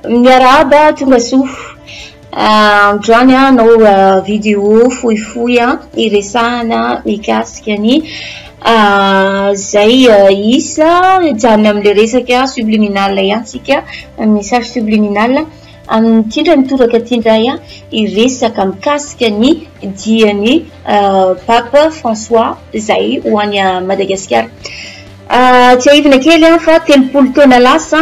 Miarahaba tonga soa. Ah, androany ah, anao ah, vidéo fohifohy a iresahana mikasika ny zay isa hijanona amin'ilay resaka subliminal ihany tsika message subliminal. Amin'ny tindran'ny toraka ity indray aho hiresaka mikasika ny dian'ny Pape François izay ho any Madagasikara. Ah, tsiahivina kely aho fa telopolo taona lasa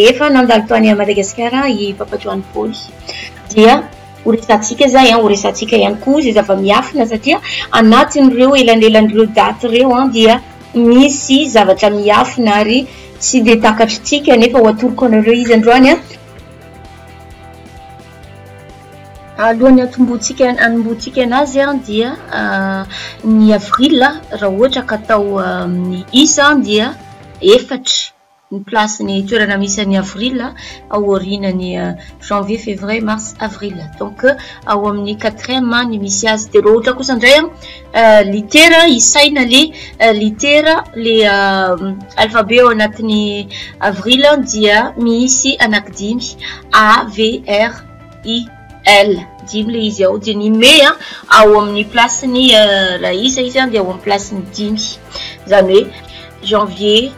efa nandalo tany a madagasikara i papa joany paoly dia horesatsika zay an horesatsika ihany koa zay zava-miafina satria anatin'ireo elanelan'ireo daty ireo an dia misy zavatra miafina ary tsy de takatritsika nefa ho atoroko anareo izy androany an Alohan'ny hatomboantsika hanombohantsika anazy dia ny avril raha ohatra ka atao amin'ny isa dia efatra ny place ny toerana misy an'ny avril ao aorianan'ny janvier, fevrier, mars, avril donc ao amin'ny quatrième ny misy azy dia raha ohatra kosa indray an! Litera isaina le litera le alfabe ao anatin'ny avril dia misy anaky dimy a v r i l dimy le izy ao dia ny me a ao amin'ny plasin'ny raha isa izy a dia ao amin'ny plasin'ny dimy izany hoe janvier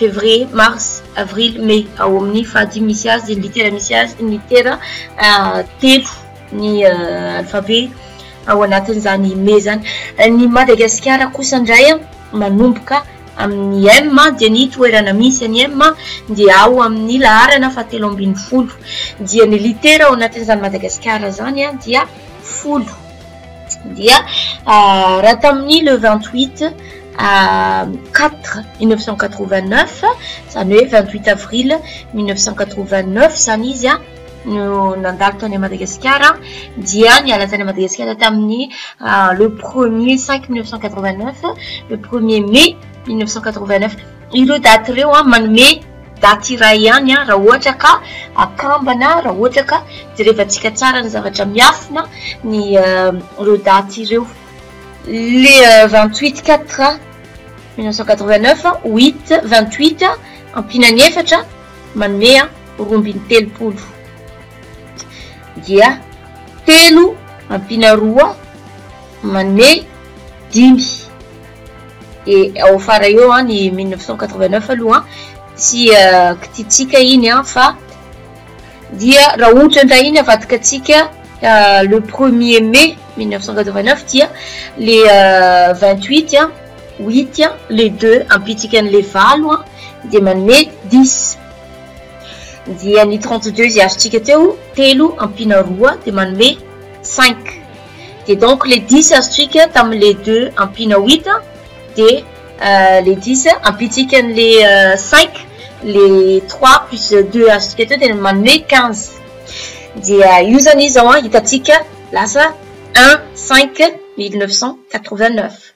février mars avril mai ao amin'ny fahadimy misy azy ny litera misy azy ny litera telo ny alfabe ao anatin'izany me izany ny madagasikara kosa indray a manomboka amin'ny m dia ny toerana misy any m dia ao amin'ny laharana fahatelo ambin'ny folo dia ny litera ao anatin'izany madagasikara izany a dia folo dia ah, raha tamin'ny le vingt huit ah, quatre mille neuf cent quatre vingt neuf izany hoe vingt huit avril mille neuf cent quatre vingt neuf izany izy a no nandalo tany Madagasikara dia niala tany Madagasikara tamin'ny ah, le premier cinq mille neuf cent quatre-vingt neuf le premier mai mille neuf cent quatre-vingt neuf ireo daty ireo a manome daty iray ihany a raha ohatra ka akambana raha ohatra ka jerevantsika tsara ny zavatra miafina ny ah, ireo daty ireo le ah, vingt huit quatre mille neuf cent quatre-vingt neuf huit vingt huit ampinany efatra Manome an roa ambin'ny telopolo dia telo ampiana roa manome dimy e ao fara eo an ny 1989 aloha tsy kititsika iny an fa dia raha ohatra ndray iny avadika tsika le premier mai 1989 dia le 28 an Huit an, le deux ampitsika an'ilay valo an, dia manome dix. Dia ny trente deux izay azontsika teo, telo ampiana roa dia manome cinq. Dia donc le dix azontsika tamin'ilay deux ampiana huit an, dia le dix ampitsika an'ilay cinq, le trois plus deux azontsika teo dia manome quinze. Dia io izany izao an, hitantsika lasa un cinq mille neuf cent quatre vingt neuf.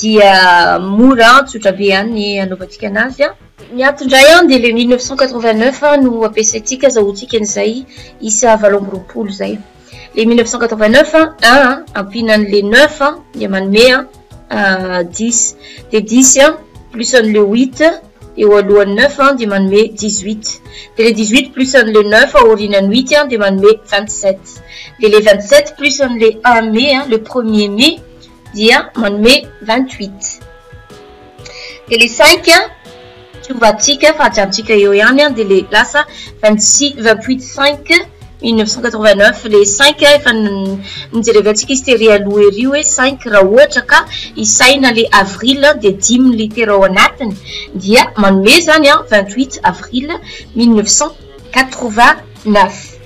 dia mora an, tsotra be an ny anaovantsika anazy an. Ny ato indray an dia le mille neuf cent quatre-vingt-neuf no ampiasaintsika azahoantsika an'izay isa valo amby roapolo zay. Le mille neuf cent quatre-vingt-neuf an, un an, ampiana an'le neuf an, dia manome an, dix. Dia dix an, plus an'le huit eo alohan'ny neuf an, dia manome dix-huit. Dia le dix-huit plus an'le neuf aorianan'ny huit an, dia manome vingt-sept. Dia le vingt-sept plus an'le un mai an, le premier mai, dia manome vingt huit dia le cinq a tsovatsika fa ajanontsika eo ihany a dia le lasa vingt six vingt huit cinq mille neuf cent quatre vingt neuf le cinq a efa nijerevantsika izy tery aloha ery hoe cinq raha ohatra ka isaina le avril dia dimy litera ao anatiny dia manome zany a vingt huit avril mille neuf cent quatre vingt neuf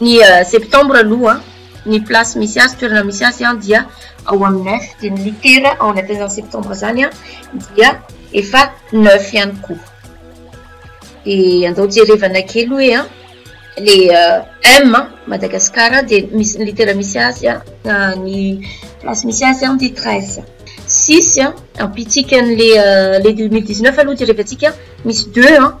Ny septembre aloha ny place misy azy toerana misy azy an dia ao amin'ny neuf dia ny litera ao anatin'izany septembre izany an dia efa neuf ihany koa dia andao jerevana kely hoe an le m Madagascar dia misy ny litera misy azy an ny place misy azy an dia treize six an ampitsika an'le le deux mille dix neuf aloha jerevantsika misy deux an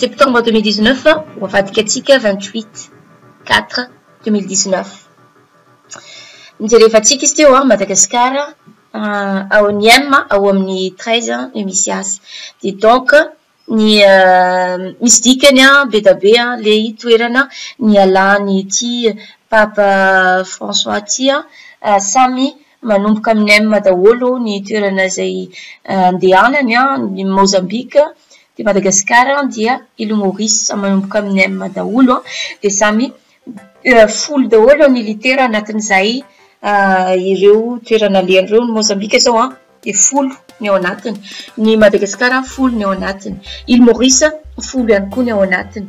Septembre deux mille dix neuf ho avadika antsika vingt huit quatre deux mille dix neuf. Nijerevantsika izy teo Madagasikara ao Niem ao amin'ny treize no misy azy. Dia donc ny misy dikany be dia be ilay toerana nialan'ity Papa François ity samy Manomboka amin'ny M daholo ny toerana izay andehanany an, Mozambika, dia Madagasikara dia Île Maurice, samy manomboka amin'ny M daholo an, dia samy folo daholo ny litera anatin'izay ireo toerana alehany ireo, ny Mozambika izao an dia folo ny ao anatiny, ny Madagasikara folo ny ao anatiny, Île Maurice folo ihany koa ny ao anatiny.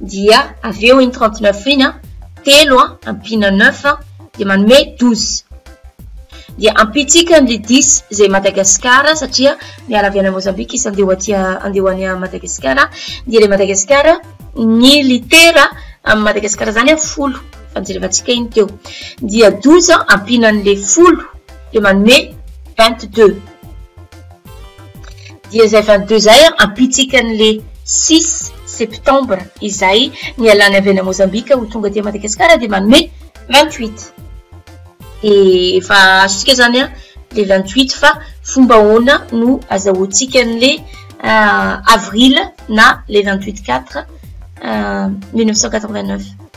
dia avy eo iny 39 iny a telo a ampiana 9 a dia manome 12 dia ampitsika ny 10 izay madagasikara satria miala avy any mozambika izy andeho aty andeho any madagasikara dia ilay madagasikara ny litera amin'ny madagasikara izany a folo fa nijerevantsika iny teo dia 12 a ampiana an'ilay folo dia manome 22 dia izay vanintoy izay ampitsika an'le 6 septembre izay nialany avy any Mozambika ho tonga aty Madagasikara dia manome 28 dia efa azontsika zany a le 28 fa fomba ahoana no azahoantsika an'le euh, avril na le 28 4 1989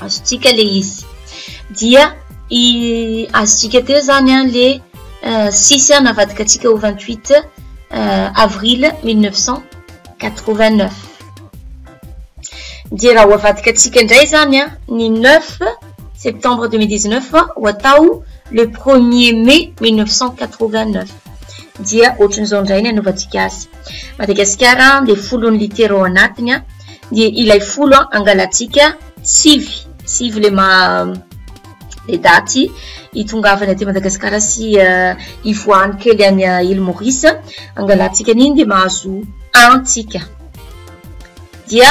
azontsika le izy dia i azontsika teo zany an le euh, sisy an navadika antsika ho 28 euh, avril 1989 dia raha ho avadika antsika indray zany an ny 9 septembre 2019 fa ho atao le premier mai 1989 dia ohatran'izao indray ny anaovantsika azy Madagasikara dia folo ny litera ao anatiny a dia ilay folo angalantsika sivy sivy le ma le daty hitongavany aty Madagasikara sy hivoahany kely any Île Maurice angalantsika an'iny dia mahazo antsika dia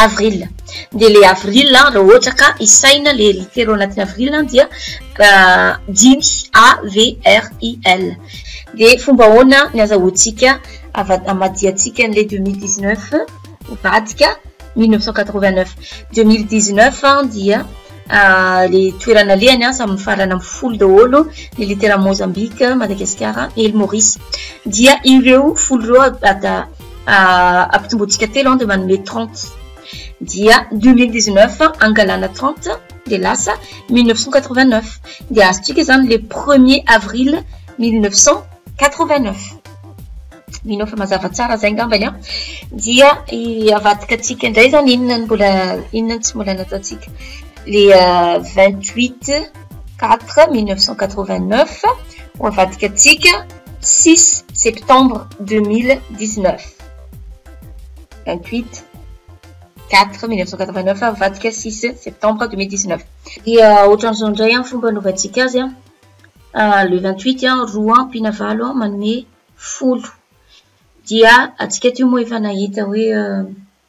Avril, dia ilay avril an, raha ohatra ka isaina ilay litera ao anatin'ny avril an dia dimy, A-V-R-I-L. Dia fomba ahoana ny azahoantsika ava- hamadihàntsika an'ilay deux mille dix neuf nivadika mille neuf cent quatre vingt neuf. Deux mille dix neuf dia ilay toerana alehany an, samy mifarana amin'ny folo daholo ny litera Mozambika, Madagasikara, Île Maurice. Dia ireo folo ireo ad-. ampitomboantsika telo an dia manome trente dia deux mille dix neuf angalana trente dia lasa mille neuf cent quatre vingt neuf dia azontsika izany le premier avril mille neuf cent quatre vingt neuf mino aho fa mazava tsara izay angambany an dia avadika antsika indray izany inona no mbola inona no tsy mbola nataontsika le vingt huit quatre mille neuf cent quatre vingt neuf ho avadika antsika six septembre deux mille dix neuf vingt huit quatre mille neuf cent quatre vingt neuf mivadika six septembre deux mille dix neuf dia ohatran'izao indray amin'ny fomba anaovantsika azy an ah, le vingt huit an roa ampiana valo an manome folo dia antsika teo moa efa nahita hoe euh,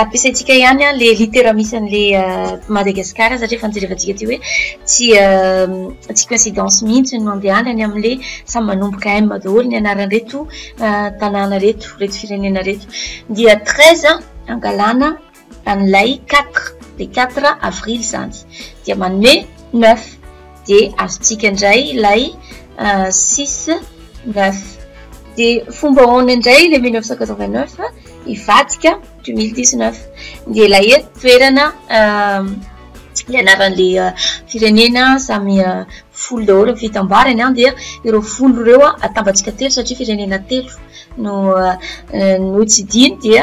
Ampiasaintsika ihany ilay litera misy an'ilay Madagascar satria efa nojerevantsika teo hoe tsy tsy coïncidence mihitsy ny mandehanany amin'ilay samy manomboka M daholo ny anaran'ireto tanàna ireto, ireto firenena ireto. Dia treize angalana an'ilay quatre, dia quatre avril izany dia manome neuf. dia azontsika indray ilay six neuf dia fomba ahoana indray ilay mille neuf cent quatre vingt neuf hivadika du mille dix neuf dia ilay eto toerana ilay anaran'ilay firenena samy folo daholo ny fitambarany an dia ireo folo ireo atambatsika telo satria firenena telo no no tsidiny dia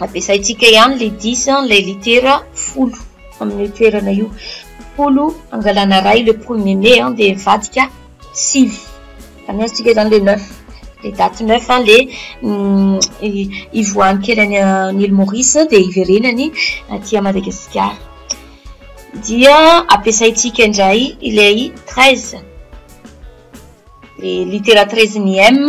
Ampiasaintsika ihany ilay dix ilay litera folo amin'io toerana io. Folo angalana iray le premier mai an dia mivadika sivy. Izany azontsika izany ilay neuf. Ilay date neuf an dia ivoahan'ny kely any an' Ile Maurice dia iverenany aty Madagasikara. Dia ampiasaintsika indray ilay treize, ilay litera treize ny M.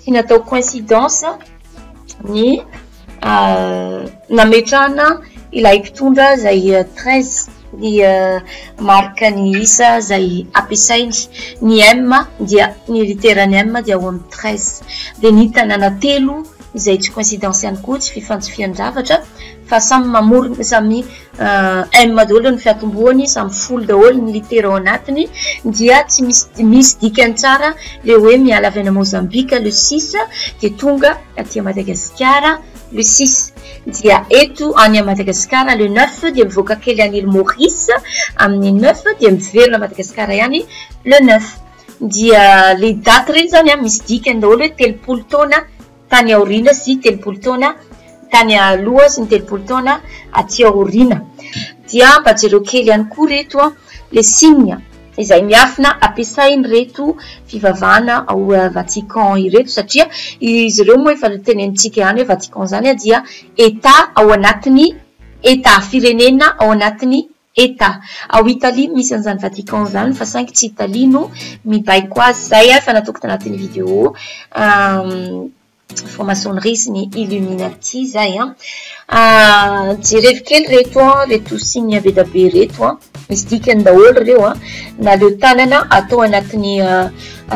tsy natao coincidence ny euh, nametrahana ilay mpitondra izay euh, treize ny euh, marika ny isa izay ampiasainy ny m dia ny literany m dia ao amin'ny treize dia ny tanàna telo izay tsy coincidence ihany koa tsy fifantsifian-javatra fa samy mamorona samy euh, M daholo ny fiatombohany samy folo daholo ny litera ao anatiny dia tsy misy misy dikany tsara le hoe miala avy ana Mozambika le six dia tonga aty a Madagasikara le six dia eto any a Madagasikara le neuf dia mivoaka kely any île Maurice amin'ny neuf dia miverina Madagasikara ihany le neuf dia le date reny zany a misy dikany daholo hoe telopolo taona tany aoriana sy telopolo taona tany aloha sy ny telopolo taona aty aoriana dia mba jereo kely ihany koa reto a le signe izay miafina ampiasain'ireto fivavahana ao Vatican ireto satria izy ireo moa efa tenenintsika ihany hoe Vatican izany dia Etat ao anatin'ny Etat firenena ao anatin'ny Eta. Ao Italie no misy an'izany Vatican izany fa saingy tsy Italie no mibaiko azy. Izay ary fanatoko tanatin'ny video franc-maçonnerie sy ny illuminati izay an. Jerevo kely reto an, reto signe be dia be reto an. Misy dikany daholo ireo an. Naleo tanana atao anatin'ny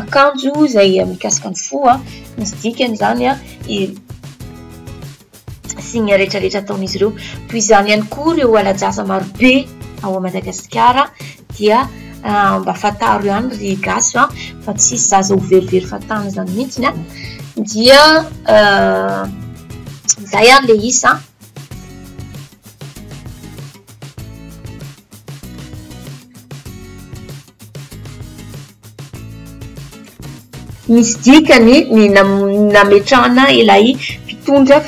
akanjo izay mikasika ny fo an. Misy dikany izany an. sy ny retraretra ataon'izy ireo toy izany ihany koa ireo alajaza marobe ao a madagasikara dia ah, mba fataro ihany ry gasy a ah, fa tsisy zaza ho verivery fatana zany mihitsiny a ah. dia zay ary le isa Misy dikany ny nametrahana ilay mpitondra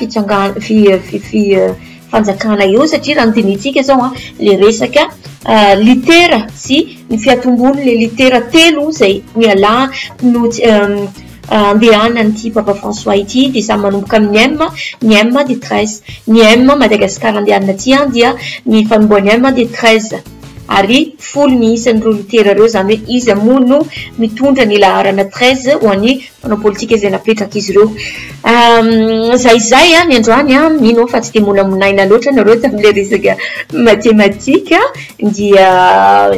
fanjakana eo satria raha ny dinihintsika izao an, ilay resaka litera sy ny fiatombon'ilay litera telo izay nialana no andehanan'ity Papa François ity dia samy manomboka amin'ny M, ny M dia treize, ny M Madagascar andehanana aty dia ny fanombohan'ny M dia treize. ary folo ny isan'ireo litera ireo, izany hoe iza moa no mitondra ny laharana treize ho an'ny mpanao politika izay napetrak'izy ireo. Izay izay ny androany, mino aho fa tsy dia molamonaina loatra ianareo tamin'ilay resaka matematika, dia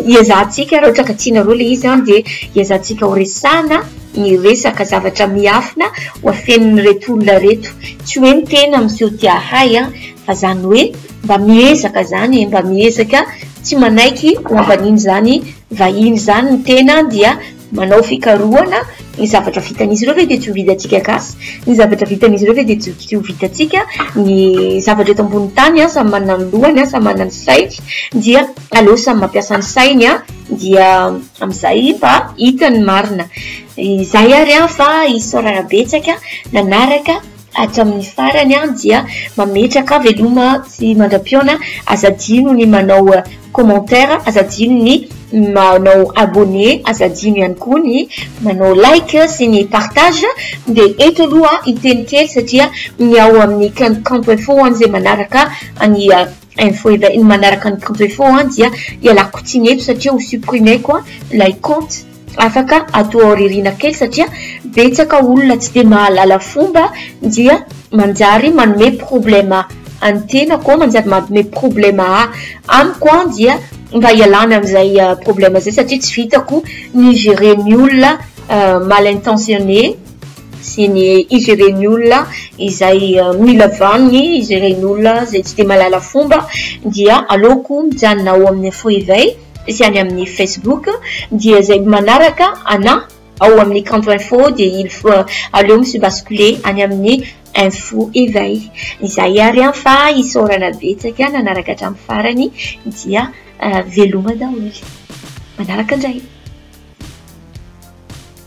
hiezahantsika raha ohatra ka tianareo ilay izy dia hiezahantsika horesahina ny resaka zavatra miafina ho afenin'ireto olona ireto, tsy hoe ny tena miseho te-hahay fa izany hoe. Mba miezaka zany e, mba miezaka tsy manaiky ho ambanin'izany vahiny izany ny tena dia manao fikarohana, ny zavatra vitan'izy ireo ve dia tsy ho vitantsika gasy, ny zavatra vitan'izy ireo ve dia tsy ho vitantsika, ny zavatra eto ambonin'ny tany samy manana ny lohany, samy manana ny sainy dia aleo samy mampiasa ny sainy dia amin'izay mba hita ny marina, izay ary fa isaorana betsaka nanaraka. Hatramin'ny farany dia mametraka veloma sy mandra-pihaona aza adino ny manao commentaire aza adino ny manao abonné aza adino ihany koa ny manao like sy ny partage dia eto aloha hiteny kely satria ny ao amin'ny camp info ho an'izay manaraka ny Info efa iny manaraka ny printo info an dia ialako tsiny eto satria ho supprimer-ko an ilay compte afaka ato aoriana kely satria betsaka olona tsy dia mahalala fomba dia manjary manome problema an'ny tenako an manjary manome problema a amiko an dia mba ialana amin'izay problema izay satria tsy vitako ny gerer ny olona mal intentionné sy ny izy ireny olona izay mila vaniny, izy ireny olona izay tsy dia mahalala fomba dia aleoko mijanona ao amin'ny info éveil sy any amin'ny facebook dia izay manaraka anà ao amin'ny kanto info dia il faut aleo mi se basculer any amin'ny info éveil izay ary an fa isaorana betsaka nanaraka hatramin'ny farany dia veloma daholo manaraka indray